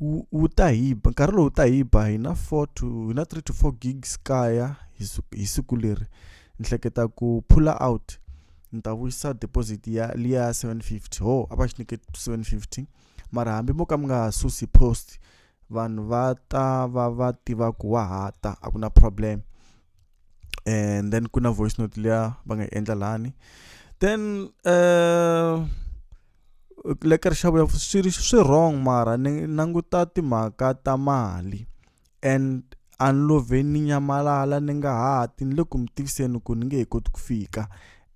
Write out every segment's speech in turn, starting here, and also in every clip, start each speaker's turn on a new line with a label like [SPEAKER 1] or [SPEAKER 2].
[SPEAKER 1] wu wu ta hi ba nkarhi lowu ta hi ba hi na four to hi na three to four gigs kaya hi siku hi siku leri ni hleketa ku pull out ni ta vuyisa deposit ya liya ya seven fifty ho a va xi nyike seven fifty mara hambi mo ka mi nga ha susi post vanhu va ta va va tiva ku wa ha ta a ku na problem and then ku na voice note liya va nga yi endla lani then uh, lekerisa vuya swi ri swi wrong mara ni languta timhaka ta mali and a ni lo vhe ni nyamalala ni nga ha ti ni le ku mi tiviseni ku ni nge he koti ku fika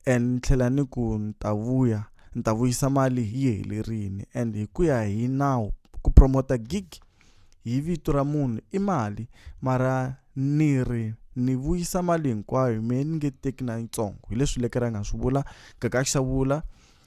[SPEAKER 1] and ni tlhela ni ku ni ta vuya ni ta vuyisa mali yi helerile and hi ku ya hi nawu ku promote-a gig hi vito ra munhu i mali mara ni ri ni vuyisa mali hinkwayo me ni nge teki na yitsongo hi leswi lekere a nga swi vula Gagax a vula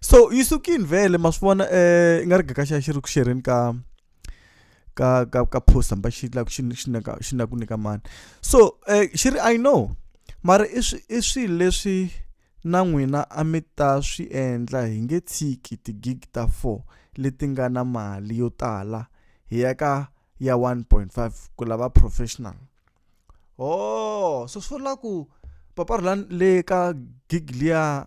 [SPEAKER 1] so yi sukini vhele ma swi vona um i nga ri gaka xa xi ri ku xerheni ka ka ka ka post hamba xi lava xi xi na xi na ku nyika mani so um xi ri i know mara i swi i swilo leswi na n'wina a mi ta swi endla hi nge tshiki ti-gig ta four leti nga na mali yo tala hi ya ka ya 1.5 ku lava professional oh so swi vula ku papa rhulani le ka gig liya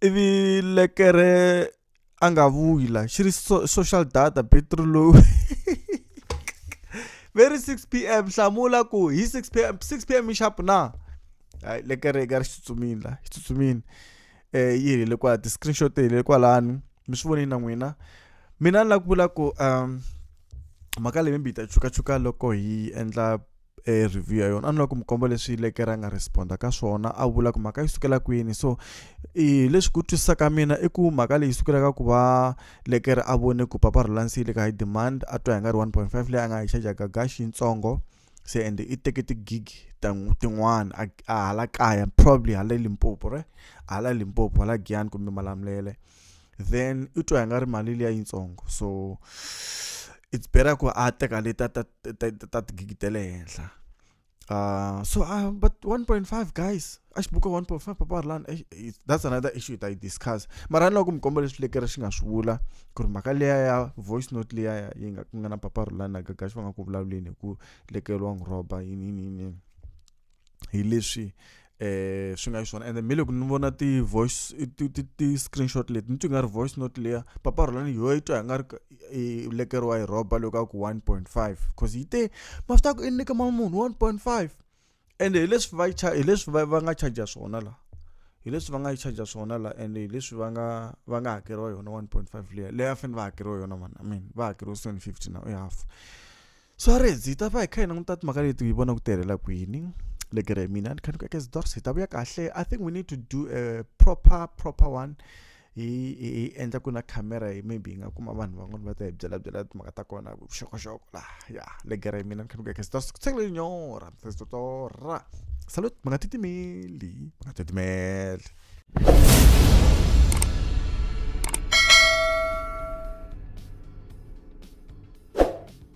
[SPEAKER 1] ivi lekere a nga vuyi la xi ri so, social data battery low very 6 p m hlamula ku hi 6 p m 6 p m i sharp na hayi lekere ka ri xi tsutsumile la xi tsutsumile um yi helele kwala ti-screenshot ti helele kwalani mi swi vonile na n'wina mina ni lava ku vula ku um mhaka leyi mi ta chukachuka loko hi endla e review ya yona a ni lava ku mi komba leswi lekere a nga responda ka swona a vula ku mhaka yi sukela kwini so i leswi ku twisisa ka mina i ku mhaka leyi sukela ka ku va lekere a vone ku papa relansi le ka high demand a twa hi nga ri 1.5 leyi a nga yi charge ka gash yitsongo se ende i teke tigig tin'wana a hala kaya probably hala limpopo right hala limpopo hala giyani kumbe malamulele then u twa i nga ri mali liya yitsongo so it's better ku a teka leti ta ta ta ta ta tigigi ta le henhla uh, so uh, but 1.5 guys a xi buka 1.5 papa ri lani that's another issue hi ta yi discuss mara ni loko mi komba leswi lekere xi nga swi vula ku ri mhaka liya ya voice note liya ya yi nga ku nga na papa ri lani na gagaxi va nga ku vulavuleni hi ku lekeriwa n'wi rhoba yini yini yini hi leswi eh swi nga xiswona and then miloko ni vona ti voice ti ti ti screenshot leti ni twi nga ri voice note leya papa rholani yo yi twa hi nga ri i lekeriwa hi roba loko a ku 1.5 because yi te mafta ku i nyika mama munhu 1.5 and hi leswi va hi leswi va nga charge swona la hi leswi va nga yi charge swona la and hi leswi va nga va nga hakeriwa yona 1.5 leya leya fane va hakeriwa yona mani i mean va hakeriwa 750 now i half Suarez yi ta va hi kha hi languta timhaka leti hi vona ku tirhela kwini le gere hi mina ni kha ni ku eka zidors hi ta vuya kahle i think we need to do a proper proper one hi hi endla ku na camera hi maybe hi nga kuma vanhu van'wana va ta hi byela byela timhaka ta kona vuxokoxoko laha ya le gere hi mina ni kha ni ku eka zidors ku tsengele nyora zidora salut mi nga titimeli mi nga titimeli